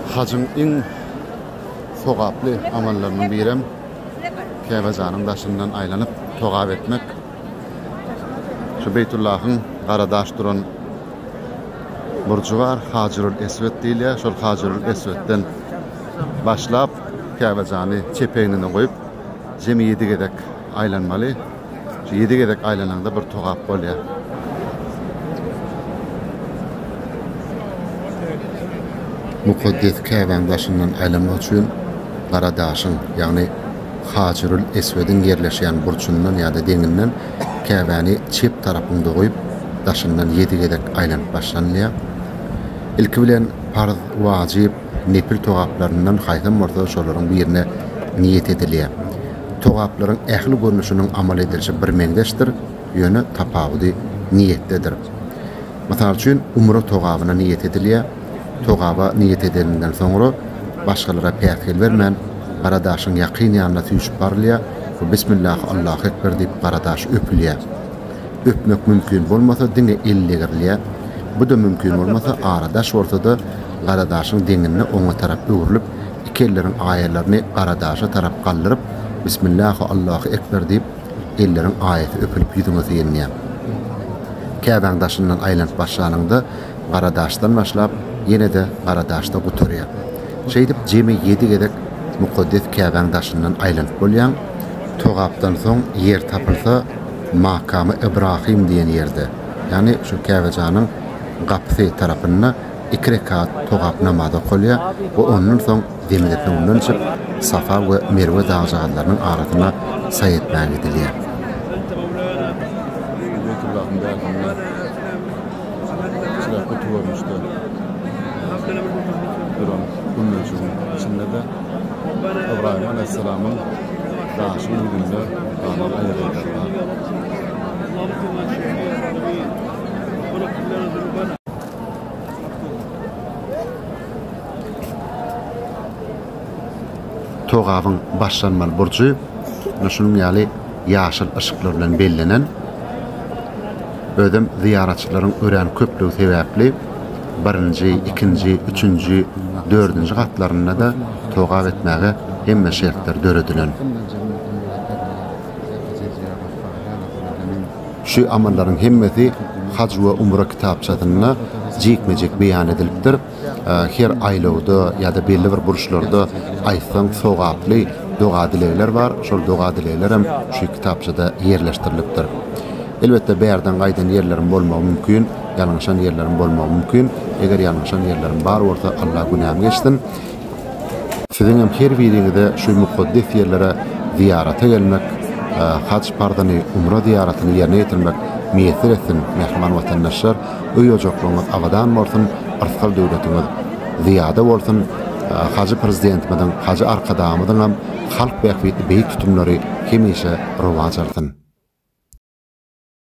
Hajyň iň sogaply amallarynyň birem Käbäjanyň daşyndan aýlanyp, togap etmek. Şu Beýtullahyň gara daş duran burjy bar, Hajyrul Eswet diýilýär. Şol Hajyrul Eswetden başlap, Käbäjany çep egnine goýup, jemi ýedi gezek aýlanmaly. Ýedi gezek aýlanaňda bir togap bolýar. Mukaddes Käbäň daşyndan aýlanmak üçin Gara daşyň, ýagny Hajarul Eswediň ýerleşýän burçundan ýa-da deňinden Käbäni çep tarapyňda goýup, daşyndan ýedi gezek aýlanyp başlanylýar. Ilki bilen parz, wajyp, nepil togaplaryndan haýsam bolsa şolaryň birine niýet edilýär. Togaplaryň ähli görnüşiniň amal edilişi birmeňzeşdir, ýöne tapawudy niýetdedir. Mysal üçin, umra togabyna niýet edilýär. Togaba niýet edilinden soňra, başgalara päsgel bermän, gara daşyň ýakyn ýanyna süýşüp barylýar we Bismillah, Allahu ekber diýip, gara daş öpülýär. Öpmek mümkin bolmasa diňe el degirilýär. Bu-da mümkin bolmasa ara daş bolsa-da gara daşyň deňinde oňa tarap öwrülip, iki elleriň aýalaryny gara daşa tarap galdyryp, Bismillahu Allahu Ekber diýip, elleriň aýasy öpülip ýüzüňe syýenýär. Käbäň daşyndan aýlanyp başlanyňda gara daşdan başlap, ýene-de gara daşda gutarýar. Şeýdip jemi ýedi gezek mukaddes Käbäň daşyndan aýlanyp bolýaň. Togapdan soň ýer tapylsa, Makamy Ybrahym diýen ýerde, ýagny şu Käbejanyň gapysy tarapynda iki rekat togap namazy okalýar we ondan soň Zemzem suwundan içip, Safa we Merwe dagjagazlarynyň arasyna saý etmäge gidilýär. Beýtullahym däl hany. Şular kötü görnüşde duran gümmejigiň içinde-de Ybrahym alaýhyssalamyň Daşyň ýüzünde galan aýazlardan. Togabyň başlanmaly burjy munuň ýaly ýaşyl yşyklar bilen bellenen. Özem zyýaratçylaryň örän köplügi sebäpli birinji, ikinji, üçünji, dördünji gatlarynda-da togap etmäge hemme şertler döredilen. Şu amallaryň hemmesi Haj we umra kitapçasynda jikme-jik beýan edilipdir. Her aýlawda ýa-da belli bir burçlarda aýtsaň sogaply doga-dilegler bar. Şol doga-dileglerem şu kitapçada ýerleşdirilipdir. Elbetde bärden gaýdan ýerlerim bolmagy mümkin, ýalňyşan ýerlerim bolmagy mümkin. Eger ýalňyşan ýerlerim bar bolsa, Allah günämi geçsin. Siziňem her biriňize şu mukaddes ýerlere zyýarata gelmek, haj parzyny, umra zyýaratyny ýerine ýetirmek miýesser etsin, mähriban watandaşlar! Öý ojaklaryňyz abadan bolsun, yrsgal döwletiňiz zyýada bolsun, Hajy Prezidentimiziň, Hajy Arkadagymyzyňam halk bähbitli beýik tutumlary hemişe rowaç alsyn!